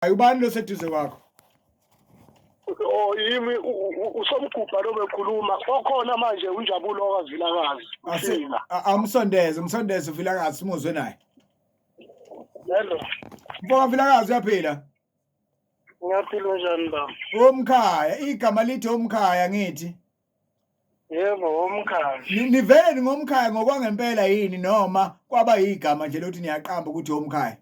Hayi ubani lo seduze kwakho? Oh yimi usomgubha lo bekhuluma okhona manje unjabulo kaVilakazi. Asina. Amsondeze, umsondeze uVilakazi simuzwe naye. Hello. Mfoka Vilakazi uyaphila? Ngiyaphila njani baba? Omkhaya, igama lithi omkhaya ngithi. Yebo, womkhaya. Ni- Nivele ningomkhaya ngokwangempela yini noma kwaba yigama nje lokuthi niyaqamba ukuthi omkhaya?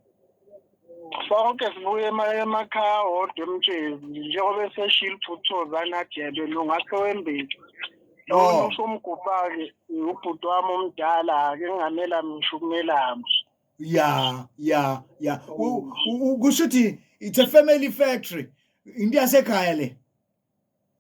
Sonke sibuye ema- emakhaya wodwa emtshezi njengoba eseshilo ubhuti Thozana Adebe nongakhe wembethu. Oh. Lona usho umgubhake ubhuti wami omdala ke ngamela ngisho umelama. Ya, ya, ya. U- u- u- Kusho ukuthi it's a family factory. Into yasekhaya le.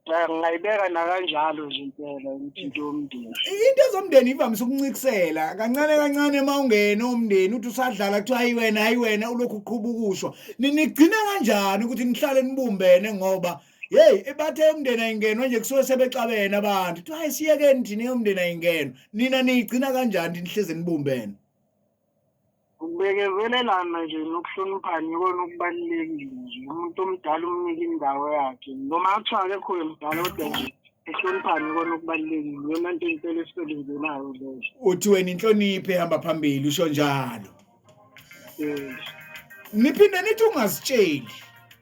Ya, ngingayibeka nakanjalo nje impela ukuthi into yomndeni into ezomndeni ivamise ukuncikisela kancane kancane uma ungena umndeni uthi usadlala kuthiwa hayi wena hayi wena ulokhu uqhuba ukusho Ni- nigcina kanjani ukuthi nihlale nibumbene ngoba yeyi ebathe yomndeni ayingenwa nje kusuke sebexabene abantu kuthiwa hayi siyekeni thina yomndeni ayingenwa nina niyigcina kanjani nihleze nibumbene Ukubekezelelana nje nokuhloniphana ikona okubalulekile nje umuntu omdala umnike indawo yakhe noma kuthiwa akekho yemdala kodwa nje ehloniphane ikona okubalulekile yona nto impela esisebenzelayo leyo uthi wena inhlonipho ehamba phambili usho njalo um niphinde nithi ungazitsheli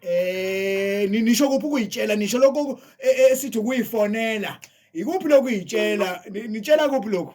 eh nisho kuphi ukuyitshela nisho lokho e, e, esithi ukuyifonela ikuphi lokuyitshela nitshela kuphi lokho